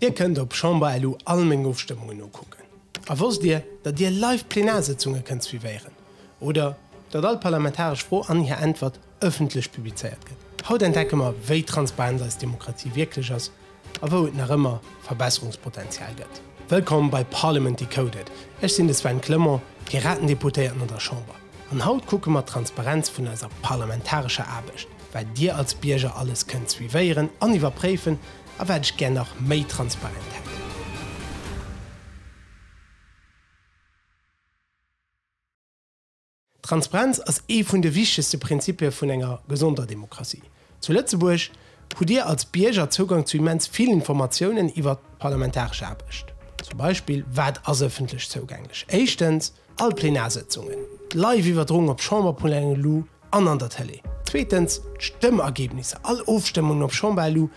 Dir kënnt op Chamber.lu all meng Ofstëmmungen nokucken. A wosst Dir, datt Dir live d'Plenarsëtzunge kënnt suivéieren? Oder datt all parlamentaresch Fro an hir Äntwert ëffentlech publizéiert gëtt? Haut entdecke mer, wéi transparent eis Demokratie wierklech ass a wou et nach ëmmer Verbesserungspotenzial gëtt. Wëllkomm bei Parliament Decoded, ech sinn de Sven Clement, Piratendeputéierten an der Chamber, an haut kucke mer d'Transparenz vun eiser parlamentarescher Aarbecht, wat Dir als Bierger alles kënnt suivéieren an iwwerpréifen, A wat ech gär nach méi transparent hätt. Transparenz ass ee vun de wichtegste Prinzipie vun enger gesonder Demokratie. Zu Lëtzebuerg hutt Dir als Bierger Zougang zu immens vill Informatiounen iwwert d'parlamentaresch Aarbecht. Zum Beispill, wat ass ëffentlech zougänglech? Éischtens, all Plenarsëtzungen, d'Live-Iwwerdroung op Chamberpulänge, lu an an der Tëlee. Zweetens d'Stëmmergebnisser, all Ofstëmmungen op Chamber elu,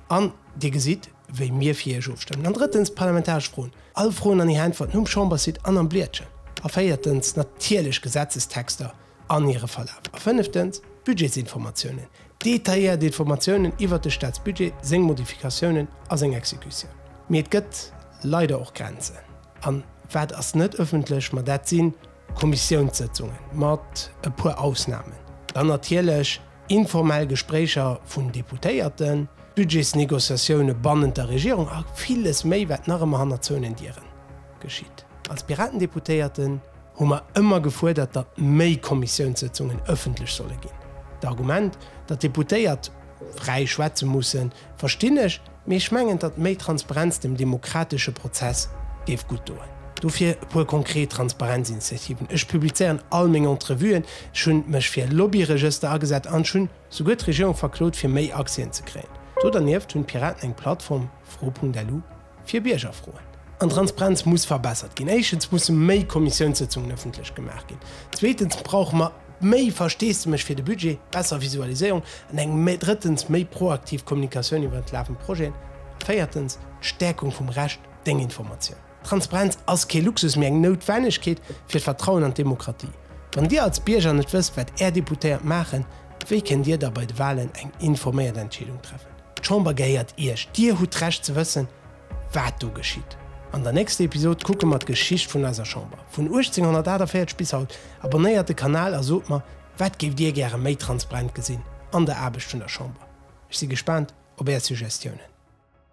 an Dir gesitt, wéi mir fir Iech ofstëmmen. An drëttens d'parlamentaresch Froen, all Froen an hir Äntwerten um Chambersite an am Bliedchen. A véiertens natierlech Gesetzestexter an hire Verlaf. A fënneftens d'Budgetsinformatiounen, detailléiert Informatiounen iwwert de Staatsbudget, seng Modifikatiounen a seng Exekutioun. Mee et gëtt leider och Grenzen. An wat ass net ëffentlech? Ma dat si Kommissiounssëtzungen, mat e puer Ausnamen. Dann natierlech informell Gespréicher vun Deputéierten, d'Budgetsnegociatioune bannent der Regierung a villes méi, wat nach ëmmer hanner zouenen Dieren geschitt. Als Piratendeputéierten hu mer ëmmer gefuerdert, datt méi Kommissiounssëtzungen ëffentlech solle ginn. D'Argument, datt d'Deputéiert fräi schwätze mussen, Verstinn ech, mee ech mengen, datt méi Transparenz dem demokratesche Prozess géif gutt doen. Dofir e puer konkret Transparenzinitiativen, Ech publizéieren all meng Entrevuen, ech hu mech fir e Lobbyregëster agesat an ech hunn souguer d'Regierung verklot, fir méi Accèsen ze kréien. Do dernieft hunn d'Piraten eng Plattform, fro.lu, fir Biergerfroen. An d'Transparenz muss verbessert ginn. Éischtens musse méi Kommissiounssëtzungen ëffentlech gemaach ginn. Zweetens brauche mer méi Versteesdemech fir de Budget, besser Visualiséierung an eng méi, drëttens méi proaktiv Kommunikatioun iwwer entlafend Projeten a véiertens d'Stäerkung vum Recht deng Informatioun. Transparenz ass kee Luxus, mee eng Noutwennegkeet fir d'Vertrauen an d'Demokratie. Wann Dir als Bierger net wësst, wat Är Deputéiert maachen, wéi kënnt Dir da bei de Wahlen eng informéiert Entscheedung treffen? D'Chamber gehéiert Iech, Dir hutt d'Recht ze wëssen, wat do geschitt. An der nächster Episod kucke mer d'Geschicht vun eiser Chamber, vun 1848 bis haut. Abonnéiert de Kanal a sot mer, wat géift Dir gäre méi transparent gesinn an der Aarbecht vun der Chamber? Ech si gespaant op Är Suggestiounen.